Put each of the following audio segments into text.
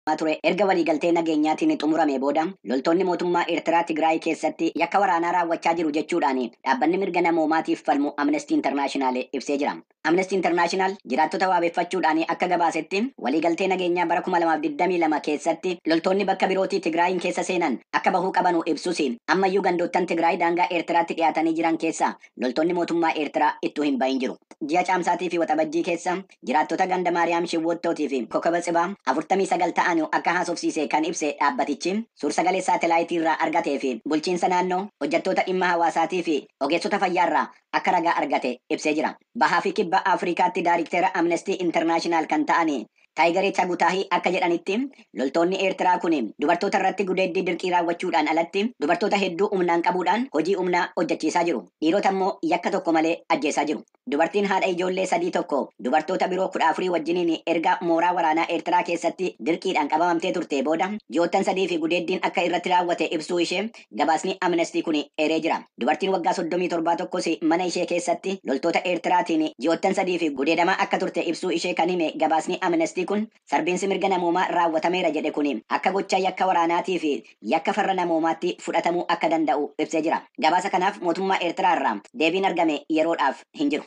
taasifamaa ture erga waliigaltee nageenyaatiin xumuramee booda loltoonni mootummaa Eertiraa Tigraay keessatti yakka waraanaa raawwachaa jiru jechuudhaan dhaabbanni mirga namoomaatiif falmu Amnestii Internaashinaal ibsee jira. Amnestii Internaashinaal jiraattota waabeffachuudhaan akka gabaasetti waliigaltee nageenyaa bara 2022 keessatti loltoonni bakka birootii Tigraayiin keessa seenan akka bahuu qabanu ibsus ammayyuu gandoottan Tigraay daangaa Eertiraatti dhiyaatanii jiran keessaa loltoonni mootummaa Eertiraa ittuu hin bahin jiru. Ji'a Caamsaatiifi Waxabajjii keessa jiraattota ganda Maariyaam Shiwwoottootii fi Kokaba Tsibaa 49 ta'anu akka haasofsiise kan ibse dhaabbatichi, suur-sagalee saatelaayitii irraa argatee fi bulchiinsa naannoo, hojjattoota dhimma hawaasaatii fi ogeessota fayyaa irraa akka ragaa argate ibsee jira. Bahaa fi Kibba Afrikaatti daarikteera Amnestii Internaashinaal kan ta'an Taayigare Chagutaahi akka jedhanitti, loltoonni Eertiraa kun dubartoota irratti gudeeddii dirqii raawwachuudhaan alatti dubartoota hedduu humnaan qabuudhaan hojii humnaa hojjachiisaa jiru. Dhiirota immoo yakka tokko malee ajjeesaa jiru. Dubartiin haadha ijoollee sadii tokko dubartoota biroo 14 wajjiniin erga mooraa waraanaa Eertiraa keessatti dirqiidhaan qabamamtee turtee booda ji'oottan sadiif gudeeddiin akka irratti raawwate ibsuu ishee gabaasni Amnesty kun eeree jira. Dubartiin waggaa 37 tokkos mana ishee keessatti loltoota Eertiraatiin ji'oottan sadiif gudeedamaa akka turte ibsuu ishee kan hime gabaasni Amnesty kun, Sarbiinsi mirga namoomaa raawwatameera jedhe kuni akka gochaa yakka waraanaatii fi yakka farra namoomaatti fudhatamuu akka danda'u ibsee jira. Gabaasa kanaaf mootummaa Eertiraa irraa deebiin argame yeroodhaaf hin jiru.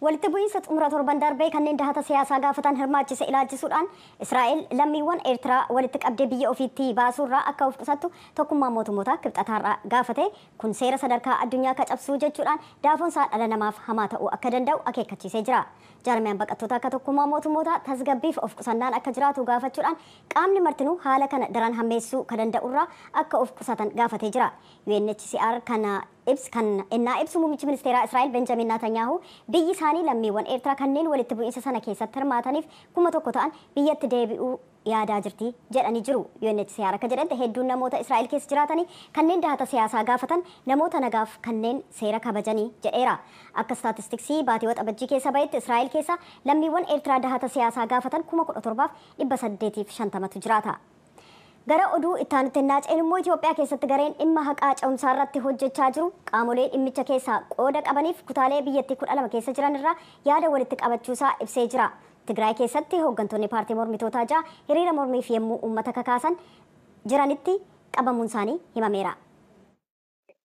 Walitti bu'iinsa xumura torban darbee kanneen dahata siyaasaa gaafatan hirmaachise ilaalchisuudhaan Israa'el lammiiwwan Eertiraa walitti qabdee biyya ofiittii baasuurraa akka of qusattu Tokkummaan Mootummootaa Kibxata har'aa gaafate, kun seera sadarkaa addunyaa ka cabsuu jechuudhaan daafoonsaa dhala namaaf hamaa ta'uu akka danda'u akeekkachiisee jira. Jaarmiyaan baqattootaa ka Tokkummaa Mootummootaa tasgabbiif of qusannaan akka jiraatu gaafachuudhaan qaamni martinuu haala kana daran hammeessuu ka danda'urraa akka of qusatan gaafatee jira. UNHCR kana ibs kan ennaa ibsu muummichi ministeeraa Israa'el Benjamin Naatanyaahu biyyi isaanii lammiiwwan Eertiraa kanneen walitti bu'iinsa sana keessatti hirmaataniif 1,000 ta'an biyyatti deebi'uu yaadaa jirti jedhani jiru. UNHCR akka jedhante hedduun namoota Israa'el keessa jiraatani kanneen dahata siyaasaa gaafatan namoota nagaaf kanneen seera kabajani jedheera. Akka istaatistiksii baatii Waxabajjii keessa bahetti Israa'el keessa lammiiwwan Eertiraa dahata siyaasaa gaafatan 17,850tu jiraata. Gara oduu ittaanutti ennaa ceenu immoo Itoophiyaa keessatti gareen dhimma haqaa ce'umsaa irratti hojjechaa jiru qaamolee dhimmicha keessaa qooda qabaniif kutaalee biyyattii 12 keessa jiran irraa yaada walitti qabachuusaa ibsee jira. Tigraay keessatti hooggantoonni paartii mormitootaa ja'a hiriira mormiif yemmuu uummata kakaasan jiranitti qabamuunsaanii himameera.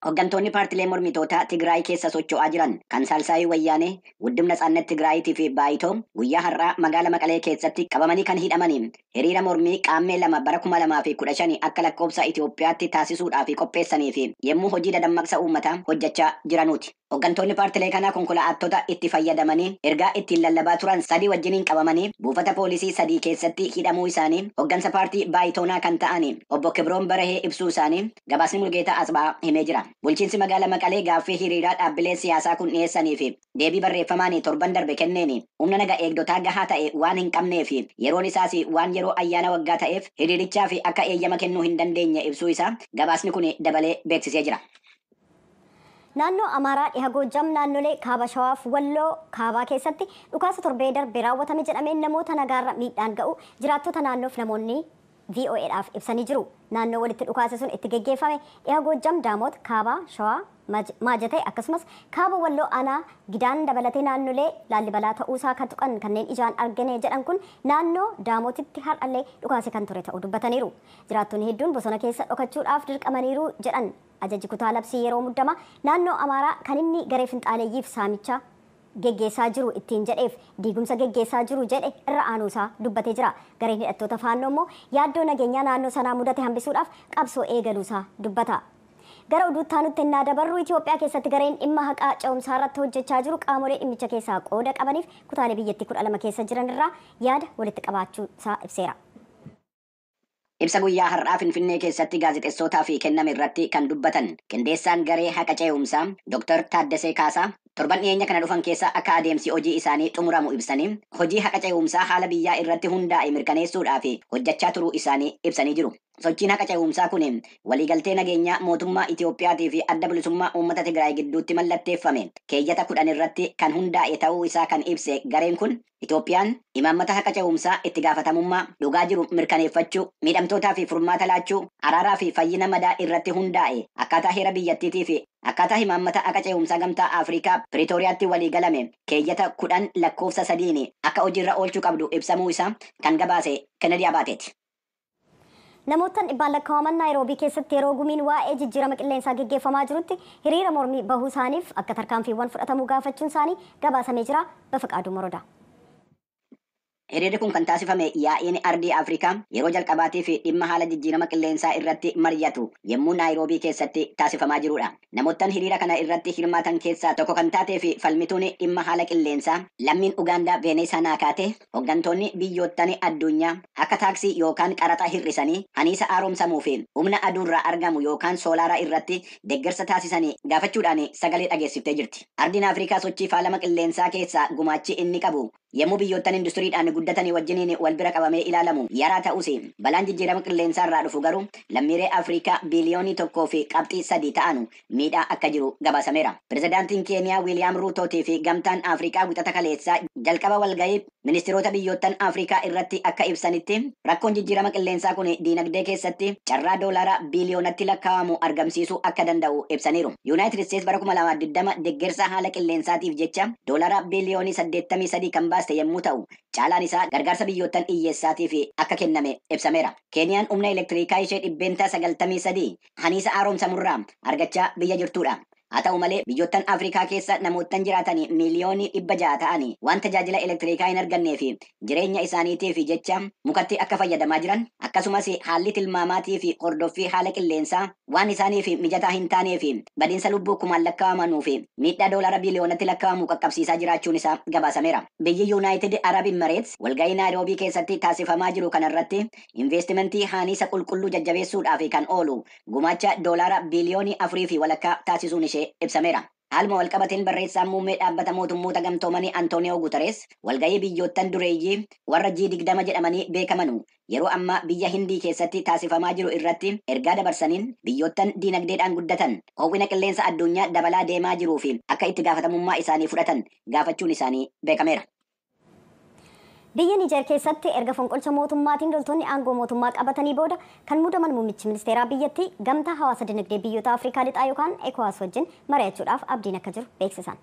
Hooggantoonni paartilee mormitootaa Tigraay keessa socho'aa jiran kan Saalsaayii Wayyaanee, Wuddib Natsaannet Tigraayitii fi Baayitoo guyyaa har'aa magaala Maqalee keessatti qabamanii kan hidhamanii hiriira mormii Qaammee 2 bara 2015 akka lakkoobsa Itoophiyaatti taasisuudhaafi qopheessaniifi yemmuu hojii dadammaqsa uummataa hojjachaa jiranuuti. Hoggantoonni paartilee kanaa konkola'aattota itti fayyadamanii ergaa ittiin lallabaa turan sadii wajjiniin qabamanii buufata poolisii sadii keessatti hidhamuu isaanii hoggansa paartii Baayitoonaa kan ta'ani obbo Kibroom Barahee ibsuu isaanii gabaasni Mulgeetaa Atsbahaa himee jira. Bulchiinsi magaala Maqalee gaaffii hiriiraa dhaabbileen siyaasaa kun dhiyeessanii fi deebii barreeffamaani torban darbe kenneeni humna naga eegdotaa gahaa ta'e waan hin qabnee fi yeroon isaasi waan yeroo ayyaana waggaa ta'eef hiriirichaafi akka eeyyama kennuu hin dandeenye ibsuu isaa gabaasni kuni dabalee beeksisee jira. Naannoo Amaaraa Dhiha Goojjam naannolee Kaaba Shawaa fi Walloo Kaabaa keessatti dhukaasa torbee darbe raawwatame jedhameen namoota nagaarra miidhaan ga'uu jiraattota naannoof namoonni VOAdhaaf ibsanii jiru. Naannoo walitti dhukaasi sun itti geggeeffame Dhiha Goojjam, Daamoot, Kaaba Shawaa, Maajatee akkasumas Kaaba Walloo Aanaa Gidaan dabalatee naannolee Laallibalaa ta'uusaa ka tuqan kanneen ijaan argine jedhan kun naannoo Daamootitti har'allee dhukaasi kan ture ta'uu dubbataniiru. Jiraattonni hedduun bosona keessa dhokachuudhaaf dirqamaniiru jedhan. Ajaji Kutaa Labsii Yeroo Muddamaa Naannoo Amaaraa kan inni garee finxaaleeyyiif saamicha geggeessaa jiru ittiin jedheef diigumsa geggeessaa jiru jedhe irra aanuu isaa dubbatee jira. Gareen hidhattoota Faannoo immoo yaaddoo nageenyaa naannoo sanaa mudate hambisuudhaaf qabsoo eegaluu isaa dubbata. Gara oduu itti aanutti ennaa dabarru Itiyoophiyaa keessatti gareen dhimma haqaa ce'umsaa irratti hojjechaa jiru qaamolee dhimmicha keessaa qooda qabaniif kutaalee biyyattii 12 keessa jiran irraa yaada walitti qabaachuu isaa ibseera. Ibsa guyyaa har'aa Finfinnee keessatti gaazexessootaaf kenname irratti kan dubbatan qindeessaan garee haqa cee'umsaa Dr. Taaddasee Kaasaa, torban dhiyeenya kana dhufan keessa akka adeemsi hojii isaanii xumuramu ibsanii, hojii haqa cee'umsaa haala biyyaa irratti hundaa'e mirkaneessuudhaaf hojjechaa turuu isaanii ibsanii jiru. Sochiin haqa cee'umsaa kun waliigaltee nageenyaa mootummaa Itoophiyaatii fi Adda Bilisummaa Uummata Tigraay gidduutti mallatteeffame keeyyata 10 irratti kan hundaa'e ta'uu isaa kan ibse gareen kun, Itoophiyaan imaammata haqa ce'umsaa, itti gaafatamummaa, dhugaa jiru mirkaneeffachuu, miidhamtootaa fi furmaata laachuu, araaraa fi fayyina madaa irratti hundaa'e akkaataa heera biyyattiitii fi akkaataa himaammata haqa ce'umsaa Gamtaa Afrikaa Piriitooriyaatti walii galame keeyyata 10 lakkoofsa 3n akka hojiirra oolchuu qabdu ibsamuu isaa kan gabaase Kennedy Abaate ti. Namoottan dhibbaan lakkawaman Naayiroobii keessatti yeroo gumiin waa'ee jijjiirama qilleensaa geggeeffamaa jirutti hiriira mormii bahuu isaaniif akka tarkaanfiiwwan fudhatamuu gaafachuun isaanii gabaasamee jira. Bafaqaaduu Morodaa. Hiriirri kun kan taasifame yaa'iin Ardii Afrikaa yeroo jalqabaatiif dhimma haala jijjiirama qilleensaa irratti maryatu yemmuu Naayiroobii keessatti taasifamaa jiruudha. Namoottan hiriira kana irratti hirmaatan keessaa tokko kan taatee fi falmituun dhimma haala qilleensaa lammiin Ugaandaa Veeneesaa Naakaatee, Hoggantoonni biyyoottan adduunyaa akka taaksii yookaan qaraxa hir'isanii aniisa aaromsamuu fi humna aduurraa argamu yookaan soolaara irratti deggersa taasisan gaafachuudhaan sagalee dhageessiftee jirti. Ardiin Afrikaa sochii faalama qilleensaa keessaa gumaachi inni qabu yemmuu biyyoottan industiriidhaan guddatani wajjiniin wal bira qabamee ilaalamu yaraa ta'us balaan jijjiirama qilleensaarraa dhufu garuu lammiiree Afrikaa biiliyoonii 1 fi qabxii 3 ta'anu miidhaa akka jiru gabaasameera. Pirezidaantiin Keeniyaa Wiiliyaam Ruutootii fi Gamtaan Afrikaa wixata kaleessaa jalqaba walgahii ministiroota biyyoottan Afrikaa irratti akka ibsanitti, rakkoon jijjiirama qilleensaa kun diinagdee keessatti carraa doolaaraa biiliyoonatti lakkaa'amu argamsiisuu akka danda'u ibsaniiru. Yuunaayitid Isteets bara 2020 deggersa haala qilleensaatiif jecha doolaaraa biiliyoonii 83 kan baaste yemmuu ta'u, caalaan isaa gargaarsa biyyoottan iyyeessaatiif akka kenname ibsameera. Keeniyaan humna elektiriikaa ishee %93 haniisa haaromsamurraa argachaa biyya jirtuudha. Haa ta'u malee, biyyoottan Afrikaa keessa namoottan jiraatani miiliyoonii 600 ta'ani waan tajaajila elektiriikaa hin arganneefi jireenya isaaniitiifi jecha mukatti akka fayyadamaa jiran, akkasumas haalli tilmaamaatiifi hordoffii haala qilleensaa waan isaaniifi mijataa hin taaneefi badinsa lubbuu kumaan lakkaa'amanuufi miidhaa doolaara biiliyoonatti lakkaa'amu qaqqabsiisaa jiraachuun isaa gabaasameera. Biyyi Yuunaayitid Arab Immareets walga'ii Naayiroobii keessatti taasifamaa jiru kanarratti Inveestimentii haaniisa qulqulluu jajjabeessuudhaaf kan oolu gumaacha doolaara biiliyoonii afurii fi walakkaa taasisuun ishee ibsameera. Haaluma walqabateen barreessaan muummee Dhaabbata Mootummoota Gamtoomanii Antooniyoo Guutarees walgahii biyyoottan dureeyyii warra G20 jedhamanii beekamanu yeroo ammaa biyya Hindii keessatti taasifamaa jiru irratti ergaa dabarsaniin biyyoottan diinagdeedhaan guddatan hoo'ina qilleensa adduunyaa dabalaa deemaa jiruuf akka itti gaafatamummaa isaanii fudhatan gaafachuun isaanii beekameera. Biyya Niijeer keessatti erga fonqolcha mootummaatiin loltoonni aangoo mootummaa qabatanii booda kan muudaman muummichi ministeeraa biyyattii Gamtaa Hawaasa Dinagdee Biyyoota Afrikaa Lixaa yookaan Ecowas wajjin mari'achuudhaaf abdiin akka jiru beeksisan.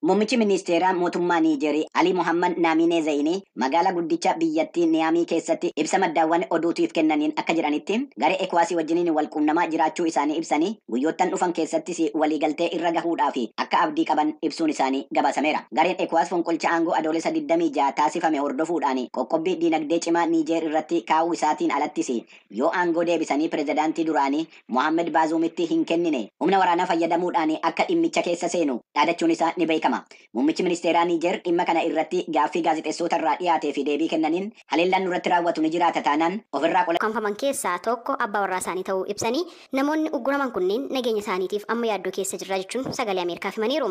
Muummichi ministeeraa mootummaa Niijeer Alii Mohaammed Naamiinee Zayinii Magaalaa guddicha biyyattii Niyaamii keessatti ibsa maddaawwan oduutiif kennaniin akka jedhanitti, garee Ecowas wajjiniin wal quunnamaa jiraachuu isaanii ibsanii, guyyoottan dhufan keessattis waliigaltee irra gahuudhaaf akka abdii qaban ibsuun isaanii gabaasameera. Gareen Ecowas fonqolcha aangoo Adoolessa 26 taasifame hordofuudhaan qoqqobbii diinagdee cimaa Niijeer irratti kaa'uu isaatiin alattis yoo aangoo deebisanii pirezidaantii duraanii Mohaammed Baazuumitti hin kennine humna waraanaa fayyadamuudhaan akka dhimmicha keessa seenu dhaadachuun isaa ni beekama. Muummichi ministeeraa Niijeer dhimma kana irratti gaaffii gaazexessoota irraa dhiyaatee fi deebii kennaniin haleellaan nurratti raawwatu ni jiraata taanaan of irraa ukkaamfaman keessaa tokko abbaa warraa isaanii ta'uu ibsanii, namoonni ugguraman kunneen nageenya isaaniitiif amma yaaddoo keessa jirra jechuun sagalee Ameerikaaf himaniiru.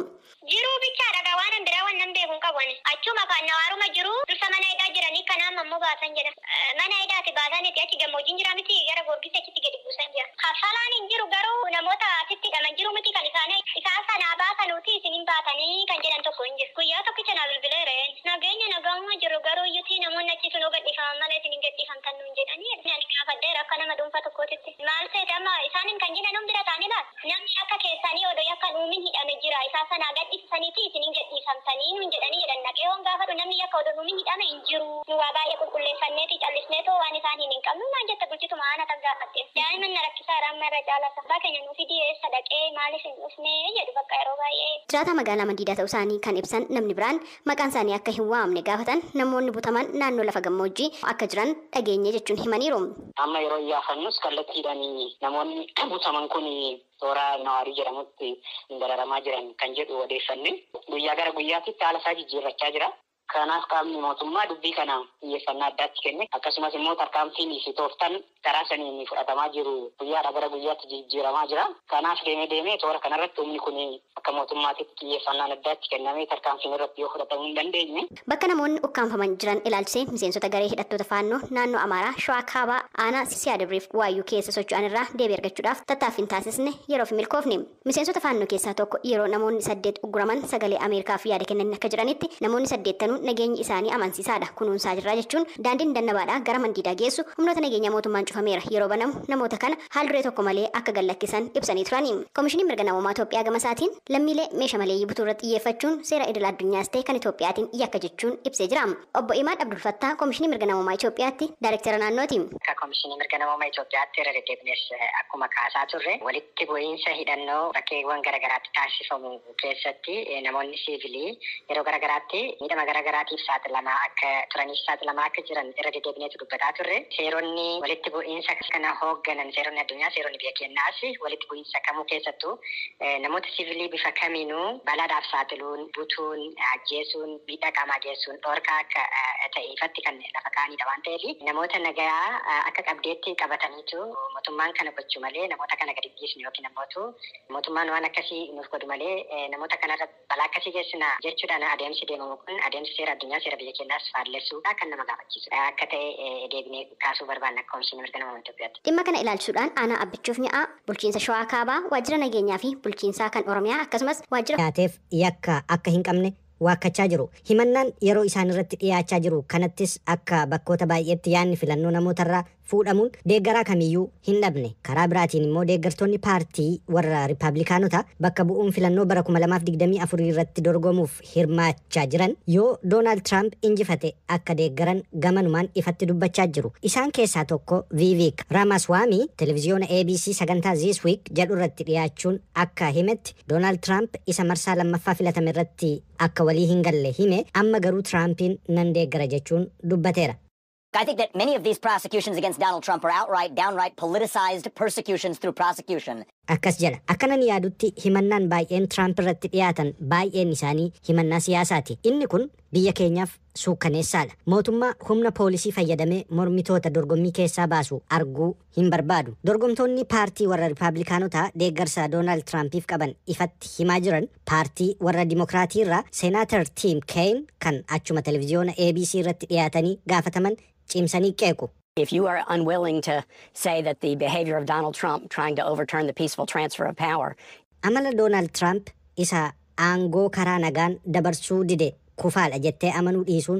Jiruu bichaadha gaa waanan biraa wannan beeku hin qabu ani. Achuuma kaan nawaaruma jiruu dursa mana hidhaa jiranii kana amma immoo baasan jedha. Mana hidhaati baasaniti achi gammoojjiin jira miti gara goorgissi achitti gadi buusan jira kaffalaan hin jiru garuu namoota asitti hidhaman jiru miti kan isaani isaan san haa baasanuuti isin hin baatani kan jedhan tokko hin jiru guyyaa tokkicha naa bilbilee reen nageenya nagaahuma jirru garuu iyyuti namoonni achi sun hoo gadhiifaman malee isin hin gadhiifamtan nuun jedhani ani gaafadheera akka nama dhuunfaa tokkootitti maal seete amma isaanin kan jedhan hin bira taani laal Namni yakka keessaanii odo yakka hin uumin hidhame jira, isaa sana haa gadhiisisaniitii isin hin gadhiifamtanii nuun jedhanii jedhan. Dhaqee yoon gaafadhu namni yakka odo hin uumin hidhame hin jiru. Nu waa baay'ee qulqulleeffanneetii callisneetoo waan isaan hin hin qabnu naan jette bulchituma aanaa tan gaafadhe. Daa'iman na rakkisaara amma irra caala isa. Abbaa keenya nuu fidii eessa dhaqee, maaliif hin dhufne? jedhu bakka yeroo baay'ee. Jiraataa magaalaa Mandiidaa ta'usaanii kan ibsan namni biraan, maqaan isaanii akka hin waamamne gaafatan namoonni butaman naannoo lafa gammoojjii akka jiran dhageenye jechuun himaniiru. Amma yeroo iyyaafannus kallattiidhaan namoonni butaman kun toora Nawaarii jedhamutti dararamaa jiran kan jedhu odeeffanne. Guyyaa gara guyyaatitti haala isaa jijjiirrachaa jira. Kanaaf qaamni mootummaa dubbii kana xiyyeeffannaa addaa itti kenne akkasumas immoo tarkaanfiin fi tooftaan Karaa saniin fudhatamaa jiru guyyaadhaa gara guyyaatti jijijjiiramaa jira. Kanaaf deemee deemee toora kanarratti humni kun akka mootummaatitti xiyyeeffannaan addaa itti kennamee tarkaanfiin irratti yoo fudhatamuu hin dandeenye, Bakka namoonni ukkaamfaman jiran ilaalchisee miseensota garee hidhattoota Faannoo naannoo Amaaraa Shawaa Kaabaa aanaa Siyaadabriif Waayyuu keessa socho'an irraa deebii argachuudhaaf tattaaffiin taasisne yeroof hin milkoofne. Miseensota Faannoo keessaa tokko yeroo namoonni saddeet ugguraman sagalee Ameerikaaf yaada kennaniin akka jedhanitti, namoonni saddeettanuu nageenyi isaanii amansiisaadha, kunuunsaa jirra jechuun daandiin Dannabaadhaa gara Mandiidaa geessu humnoota nageenyaa mootummaan cufameera, yeroo banamu namoota kana haal-duree tokko malee akka gad-lakkisan ibsanii turani. Komishiniin Mirga Namoomaa Itoophiyaa gamasaatiin, lammiilee meesha maleeyyii butuurratti xiyyeeffachuun seera idil-addunyaas ta'e kan Itoophiyaatiin yakka jechuun ibsee jira. Obbo Imaad Abdulfattaah Komishinii Mirga Namoomaa Itoophiyaatti Daayrektera Naannooti. Akka Komishinii Mirga Namooma Itoophiyaatti irra deddeebinees akkuma kaasaa turre, walitti bu'iinsa hidhannoo bakkeewwan gara garaatti taasifamu keessatti namoonni siivilii yeroo gara garaatti miidhama gara garaatiif saaxilamaa akka turanii fi saaxilamaa akka jiran irra deddeebineetu dubbataa turre. Seeronni walitti bu'iinsa kana hoogganan, seeronni addunyaa, seeronni biyya keenyaas walitti bu'iinsa kamuu keessattuu namoota siivilii bifa kamiinuu balaadhaaf saaxiluun, butuun, ajjeesuun, miidhaa qaamaa geessuun dhoorkaa akka ta'e ifatti kan lafa kaa'aniidha waan ta'eef namoota nagayaa akka qabdeetti qabataniitu mootummaan kana gochu malee namoota kana gadi hin dhiisnu yookiin ammootu mootummaan waan akkasii nuuf godhu malee namoota kanarra balaa akkasii geessina jechuudhaan adeemsi deemamu kun adeemsa seera addunyaa seera biyya keenyaas faallessuudha kan nama gaafachiisu akka ta'e deebinee kaasuu barbaanna akka Komishinii Mirga Namoomaa Itoophiyaatti. Dhimma kana ilaalchisuudhaan Aanaa Abbichuuf Nya'aa, Bulchiinsa Shawaa Kaabaa, Waajjira Nageenyaa fi Bulchiinsaa kan Oromiyaa akkasumas Waajjira. dhiyaateef yakka akka hin qabne waakkachaa jiru. Himannaan yeroo isaanirratti dhiyaachaa jiru kanattis akka bakkoota baay'eetti yaadni filannoo namootarraa fuudhamuun deeggaraa kamiyyuu hin dhabne. Karaa biraatiin immoo deeggartoonni paartii warra Rippaablikaanotaa bakka bu'uun filannoo bara 2024 irratti dorgomuuf hirmaachaa jiran yoo Doonaald Tiraamp injifate akka deeggaran gamanumaan ifatti dubbachaa jiru. Isaan keessaa tokko Viiviik Raamaswaamii televiziyoona ABC sagantaa This Week jedhurratti dhiyaachuun akka himetti, Doonaald Tiraamp isa marsaa lammaffaa filatame irratti akka walii hin galle hime, amma garuu Tiraampiin nan deeggara jechuun dubbateera. I think that many of these prosecutions against Donald Trump are outright, downright politicized persecutions through prosecution. Akkas jedha, Akkanan yaadutti himannaan baay'een Tiraamp irratti dhiyaatan baay'een isaanii himannaa siyaasaati. Inni kun biyya keenyaaf suukkaneessaadha. Mootummaa humna poolisii fayyadamee mormitoota dorgommii keessaa baasu arguu hin barbaadu. Dorgomtoonni paartii warra Ripaablikaanotaa deeggarsa Doonaald Tiraampiif qaban ifatti himaa jiran paartii warra Dimokiraatiirraa Seenaatar Tiim Keeyin kan achuma televiziyoona ABC irratti dhiyaatanii gaafataman cimsanii qeequ. If you are unwilling to say that the behavior of Donald Trump trying to overturn the peaceful transfer of power Amala Doonaald Tiraamp isa aangoo karaa nagaan dabarsuu dide kufaadha jettee amanuu dhiisuun